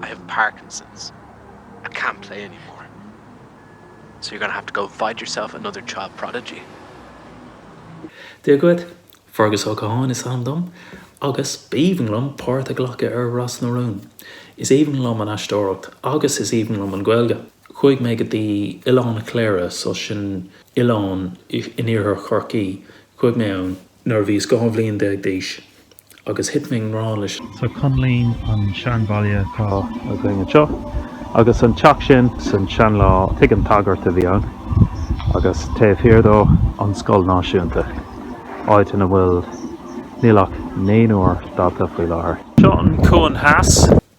I have Parkinson's, I can't play anymore. So you're going to have to go and find yourself another child prodigy. Dia dhuit. Fergus Ó Catháin is ainm dom agus b'aoibhinn liom páirt a ghlacadh ar Ros na Rún. Is aoibhinn liom an aisteoireacht agus is aoibhinn liom an Ghaeilge. Chuaigh mé go dtí Oileán Chléire, so sin oileán in iarthar Chorcaí, chuaigh mé ann. nuair a bhíos dhá bhliain déag d'aois agus thit mé i ngrá leis. So Coinlín, an seanbhaile, atá againn anseo. Agus an teach sin san sean lá, tigh an tsagairt a bhí ann agus taobh thiar de an scoil náisiúnta, áit ina bhfuil níl ach naonúr dalta faoi láthair. Seo an Cuan Theas.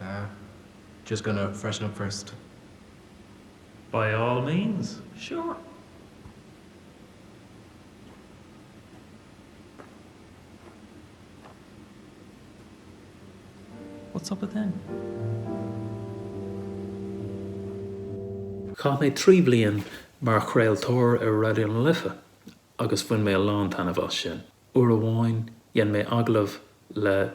Ah, just gonna freshen up first. By all means, sure. What's up with him? Chaith mé trí bhliain mar chraoltóir ar Raidió na Life agus bhain mé a lán taitneamh as sin. Uair amháin dhein mé agallamh le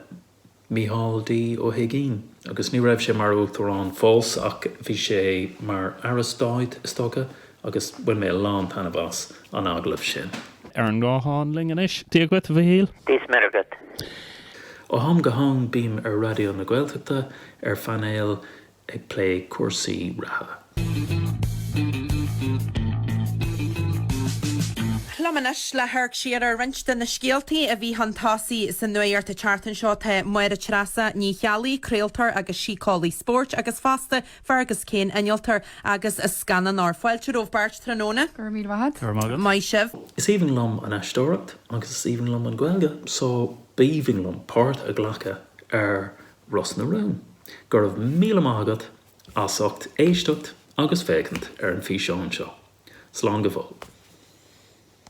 Mícheál D. Ó hUiginn agus ní raibh sé mar Uachtarán fós ach bhí sé mar Aire Stáit, is dócha, agus bhain mé a lán taitneamh as an agallamh sin. Ar an nguthán linn anois. Dia dhuit, a Mhichíl. Dia is Muire dhuit. Ó ham go ham bím ar Raidió na Gaeltachta ar phainéal ag plé cúrsaí reatha. Liom anois le hamharc siar ar roinnt de na scéaltaí a bhí chun tosaigh sa nuacht an tseachtain seo. Tá Máire Treasa Ní Cheallaigh, craoltóir agus síceolaí spóirt, agus fosta Fergus Kane, innealtóir agus scannánóir, fáilte romhaibh beirt tráthnóna. Go raibh míle maith agat. Go raibh maith agat. Maith sibh. Is aoibhinn liom an aisteoireacht agus is aoibhinn liom an Ghaeilge so b'aoibhinn liom páirt a ghlacadh ar Ros na Rún. Go raibh míle maith agat as ucht éisteacht agus féachaint ar an físeán seo. Slán go fóill.